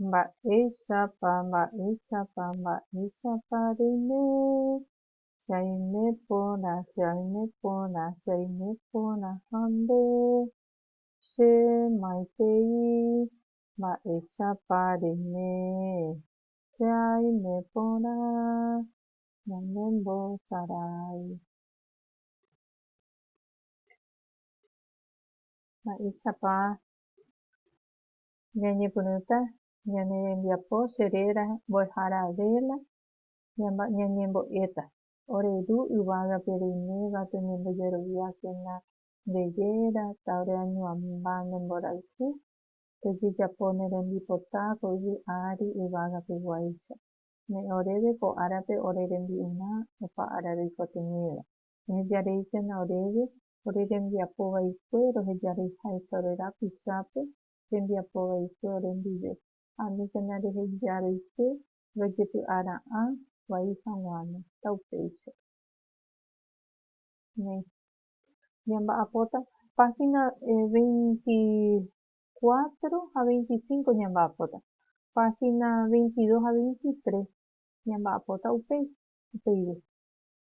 Mba'éichapa, mba'éichapa, mba'éichapa reime, che aime porã, che aime porã, che aime porã ha nde, che maitei, mba'éichapa reime, che aime porã, ñande mbosarái. Mba'éichapa ñañepyrũta ñane rembiapo che réra mbo'ehára véla ñañembo'éta? Ore ru yvágape reiméva peñembojeroviákena nde réra, tá'ore añuãmba ne mborayhu, pejejapo ne rembipota ko yvy ári yvágape guáicha. Me'ẽ oréve ko árape ore rembi'urã opa ára reikotevẽva. Ehejareíkena oréve ore rembiapo vaikue rohejareiháicha ore rapichápe rembiapo vaikue ore ndive, aníkena reheja roike rojepy'a ra'ã vai haguãme, ta upéicha. Néi. Ñamba'apóta, página veintikuátro ha veintisiñko ñamba'apóta, página veintidos ha veintitres ñamba'apóta upéi, upeive.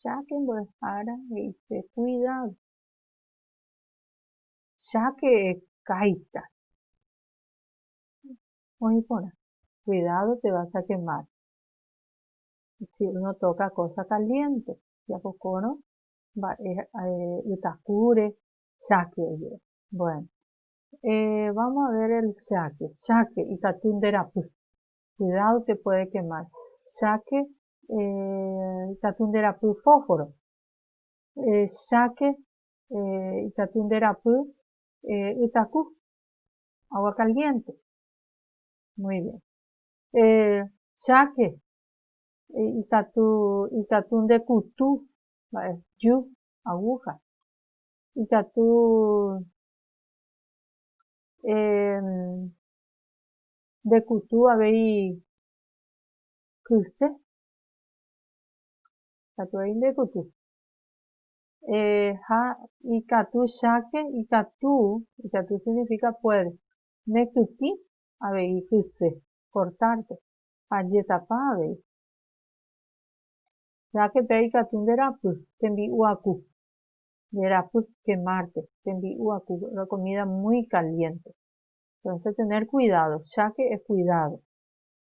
Cháke mbo'ehára he'ise kuidádo. Cháke ekáita. Oĩ porã. Kuidádo pe vas a kemár. Si uno tóka kósa kaliénte, japokórõ mba'e ytakúre cháke ojeve. Bueno, vámo a ver el cháke. Cháke ikatu nderapy. Kuidádo te puede kemar. Cháke ikatu nde rapy fósforo, cháke ikatu nde rapy ytaku, agua caliente, muy bien, cháke ikatu ikatu nde kutu mba'e, jyu, aguja, ikatu nde kutu avei kyse katu rei nde kuty eh ha ikatu cháke ikatu ikatu significa puede ne kytĩ avei kyse cortar pe ha jetapa avei cháke pe ikatu nde rapy tembi'u aku nde rapy quemar pe tembi'u aku la comida muy caliente entonces tener cuidado cháke es cuidado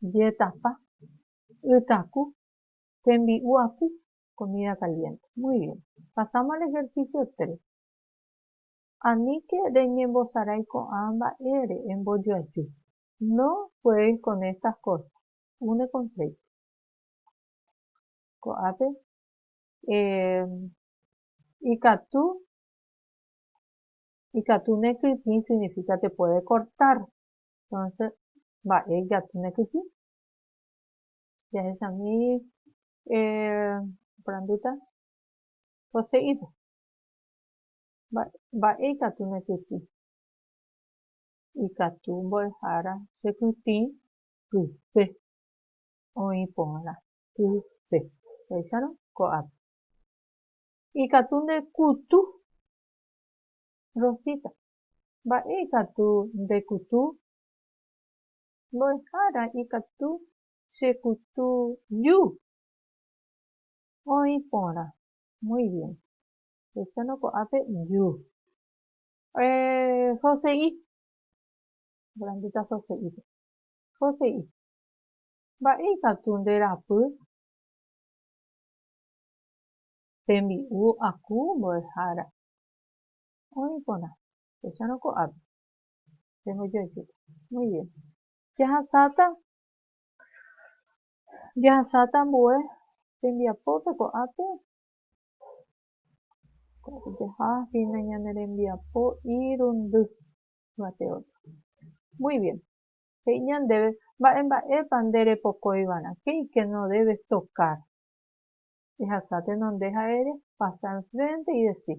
Jetapa, ytaku, tembi'u aty, comida caliente. Muy bien. Pasamos al ejercicio tres. Aníke reñembosarái ko'ã mba'ére, embojoaju. No juegues con estas cosas. Une con flecha. Ko'ápe eh, ikatu ikatu nekytĩ significa te puede cortar. Entonces, mba'e ijatýne kyhyje. Jahechami oporandúta poseído. Mba'e ikatúne kyhy. Ikatu mbo'ehára chekytĩ kyse oĩ porã. Kyse. Jahécharõ ko'ápe. Ikatu ndekutu Rosita. Mba'e ikatu nde kutu? Mbo'ehára ikatu che kutu ju. Oĩ porã. Muy bien. Luciano ko'ápe ju. Eh, jose'i. Grandita jose'ípe. Jose'i. Mba'e ikatu nde rapy? Tembi'u aku mbo'ehára. Oĩ porã. Pechárõ ko'ápe. Rehoja ichupe. Muy bien. Jahasáta, jahasáta ambue tembiapópe ko'ápe. Ko'ápe jaha hína ñane rembiapo irundy yvate ótro. Muy bien. He'i ñandéve mba'e mba'épa nde repokói va'erã, qué y qué no debes tocar. Ehasa tenonde ha ere pasar enfrente y decir,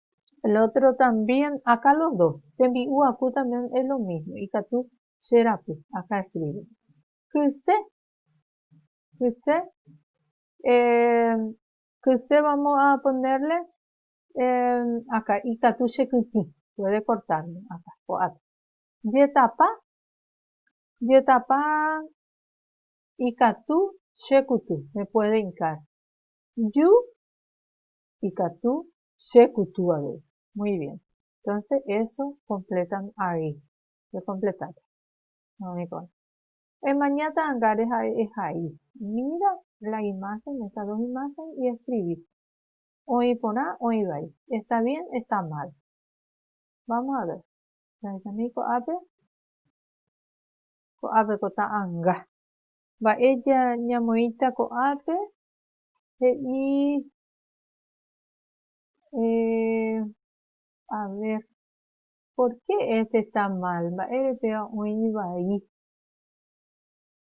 El otro también aka los dos, tembi'u aku también es lo mismo, ikatu che raku aka escribe. Kyse, kyse, eh, kyse vamos a ponerle eh, aka ikatu che kyky, puede cortar aka, ko'ápe. Jetapa, jetapa ikatu che kuty, me puede hincar. Ju, ikatu Che kutu avei. Muy bien. Entonces eso completan ahí. Che completáta. Umi ko'ã. Emaña ta'ãngáre ha'e ehai. Mira la imagen, estas dos imágenes, y escribí. Oĩ porã, oĩ vai. Está bien, está mal. Vamos a ver. Jahechamíi ko'ápe. Ko'ápe ko ta'ãnga. Mba'e ñamoĩta ko'ápe? He'i Eh, a ver, ¿por qué este está mal? Mba'ére péva oĩ vai.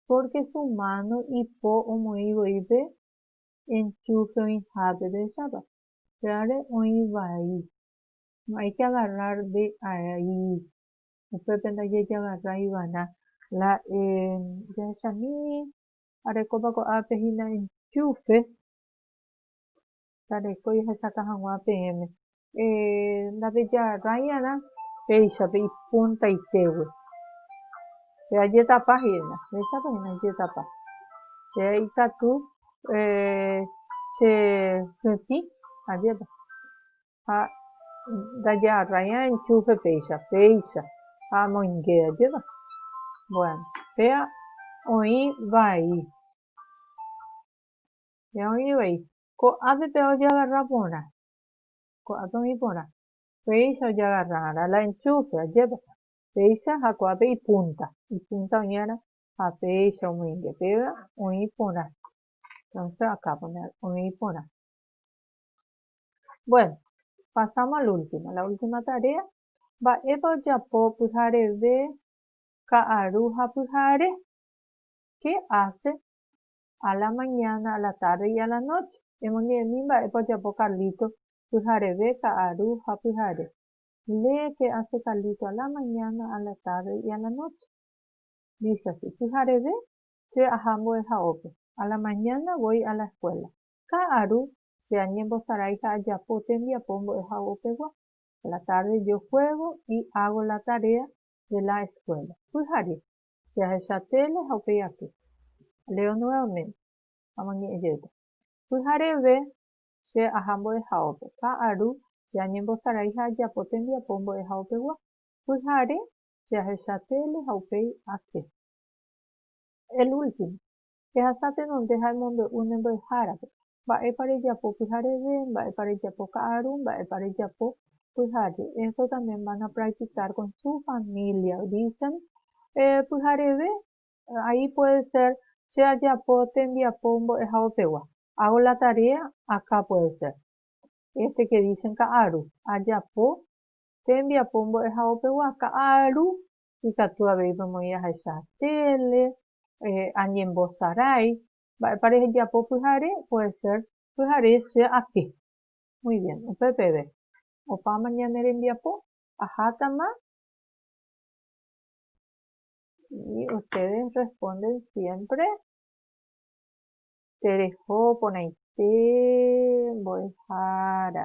Porque su mano ipo omoĩ voi pe enchufe oĩhápe pechápa. Pévare oĩ vai. No hay que agarrar de ahí. Upépe ndajejagarra iva'erã. La, eh, jahechamími arekópa ko'ápe hína enchufe, Ndarekói ahechaka hag̃ua peẽme. Ndapejarãiarã péicha pe ipuntaitégue. Pe ajetapa hína. Péichapa hína ajetapa. Pe aikatu chehytĩ ajépa. Ha ndajarãi'arã enchúfe péicha. Péicha ha amoinge ajépa. Bueno, péva oĩ vai. Ña oĩ vai. Ko'ápe pe ojagarra porã. Ko'ápe oĩ porã. Péicha ojagarrarã la enchúfe, ajépa. Péicha ha ko'ápe ipúnta. Ipúnta oĩarã ha péicha omoinge. Péva oĩ porã. Entonce acá poner oĩ porã. Bueno, pasamos al último. La última tarea. Mba'épa ojapo pyhareve ka'aru ha pyhare? ¿Qué hace a la mañana, a la tarde y a la noche. Emoñe'ẽmi mba'épa ojapo Carlito pyhareve ka'aru ha pyhare. Lee qué hace Carlito a la mañana, a la tarde y a la noche. Dice así, Pyhareve che aha mbo'ehaópe. A la mañana voy a la escuela. Ka'aru che añembosarái ha ajapo tembiapo mbo'ehaópegua. A la tarde yo juego y hago la tarea de la escuela. Pyhare. Che ahecha téle ha upéi aty. Leo nuevamente. Amoñe'ẽ jeýta. Pyhareve che aha mbo'ehaópe. Ka'aru che añembosarai ha ajapo tembiapo mbo'ehaópegua. Pyhare che ahecha téle ha upéi ake. El último. Ehasa tenonde ha emombe'u ne mbo'ehárape, mba'épa rejapo pyhareve, mba'épa rejapo ka'aru, mba'épa rejapo pyhare. Esto también van a practicar con su familia, dicen pyhareve ahí puede ser che ajapo tembiapo mbo'ehaovepegua, hago la tarea acá puede ser, este que dicen ka'aru, ajapo tembiapo mbo'ehaovepegua, ka'aru ikatu avei pemoĩ ahecha tele, añembosarái, mba'épa rehejapo pyhare, puede ser pyhare che atĩ. Muy bien, upe peve, opáma ñane rembiapo, ahátama, y ustedes responden siempre tereho porãite mbo'ehára.